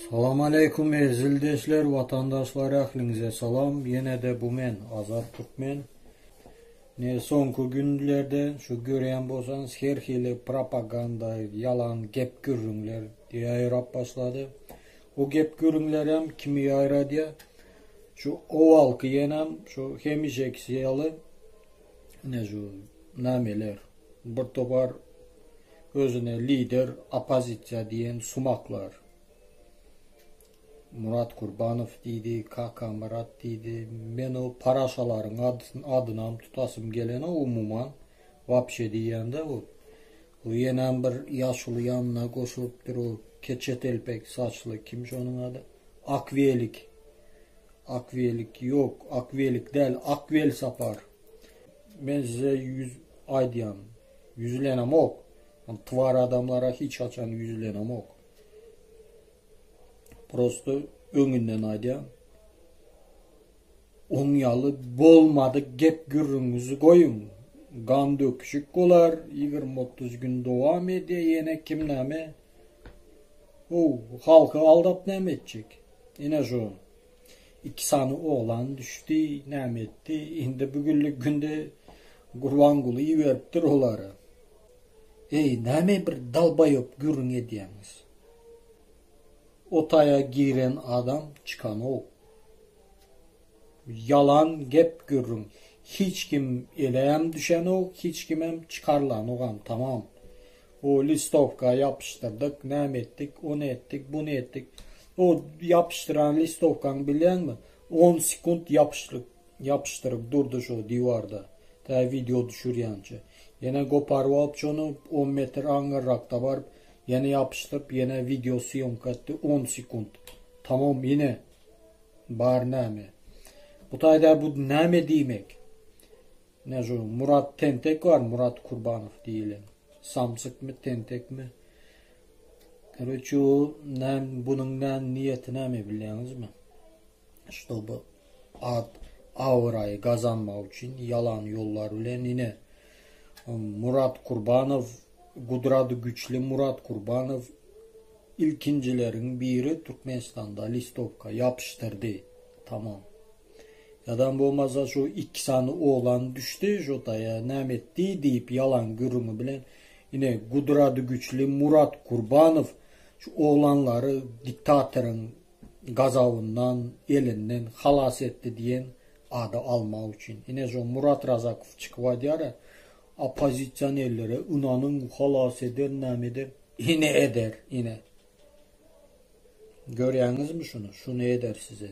Salam aleýkum eziz ildeşler, watandaşlar ähliňize salam. Ýene-de bu men Azat Türkmen. Ne soňky günlerde şu görýän bolsaňyz her hili propaganda, ýalan gep gürrüňler ýaýrap başlady. O gep gürrüňler hem kimi ýaýradýar? Şu owalky ýenem şu hemişeki ýaly ne şu nameler bir topar Özüne lider oppozisiýa diýen sumaklar. Murat Kurbanow diýdi, Kakamyrat diýdi. Men o paraşalaryň adynam tutasym gelenok umuman. Wapşe diýýän-dä bu. Bu ýenem bir ýaşuly ýanyna goşulypdyr o keçetelpek saçly kim şonuň ady? Akwelik. Akwelik ýok, Akwelik däl, Akwelsapar. Men size ýüz aýdýan, ýüzlenemok. Men twar adamlara hiç haçan ýüzlenemok. Prosta öňünden aýdýan. Oň ýaly bolmady gep gürrüňizi goýuň. Gan döküşik bolar, 20-30 gün dowam edýär, ýene kim näme? O, halky aldap näme etjek? Ine şu. Iki sany oglan düşdi, näme etdi? Indi bu günlik günde Gurbanguly iberipdir olary. Eý, näme bir dalbaýop gürrüň edýäňiz? O taýa giren adam çykanok. Ýalan gep gürrüň. Hiç kim elem düşenok, hiç kimem çykarylanogam, tamam. O listowka ýapyşdyrdyk, näme etdik, ony etdik, buny etdik. O ýapyşdyran listowkaňy bilýäňmi? On sekunt ýapyşlyk ýapyşdyryp durdy şo diwarda, tä wideo düşürýänçä. Ýene goparyp alyp şony, on metr aňyrrakda baryp, ýene ýapyşdyryp, ýene wideo sýomka etdi, on sekunt. Tamam, ýene bar näme. Bu taýda bu näme diýmek? Nä şu Murat tentek bar Murat Kurbanow diýilen. Samsykmy tentekmi? Karoçe o näm bunuň näm niýeti näme bilýäňizmi? Ştoby ad awraýy gazanmak üçin ýalan ýollar bilen ine Murat Kurbanow gudrady güçli Murat Kurbanow ilkinjileriň biri Türkmenistanda listowka ýapyşdyrdy. Tamam. Ýadam bolmasa şu iki sany oglan düşdi şu daýa näme etdi diýip ýalan gürrüňi bilen ine gudrady güçli Murat Gurbanow şu oglanlary diktatoryň gazabyndan elinden halas etdi diýen ady almak üçin ine şu Murat Razakow çykyp aýdýara oppozisionerlere ynanyň halas eder näme eder ine eder ine görýäňizmi şuny şuny eder size.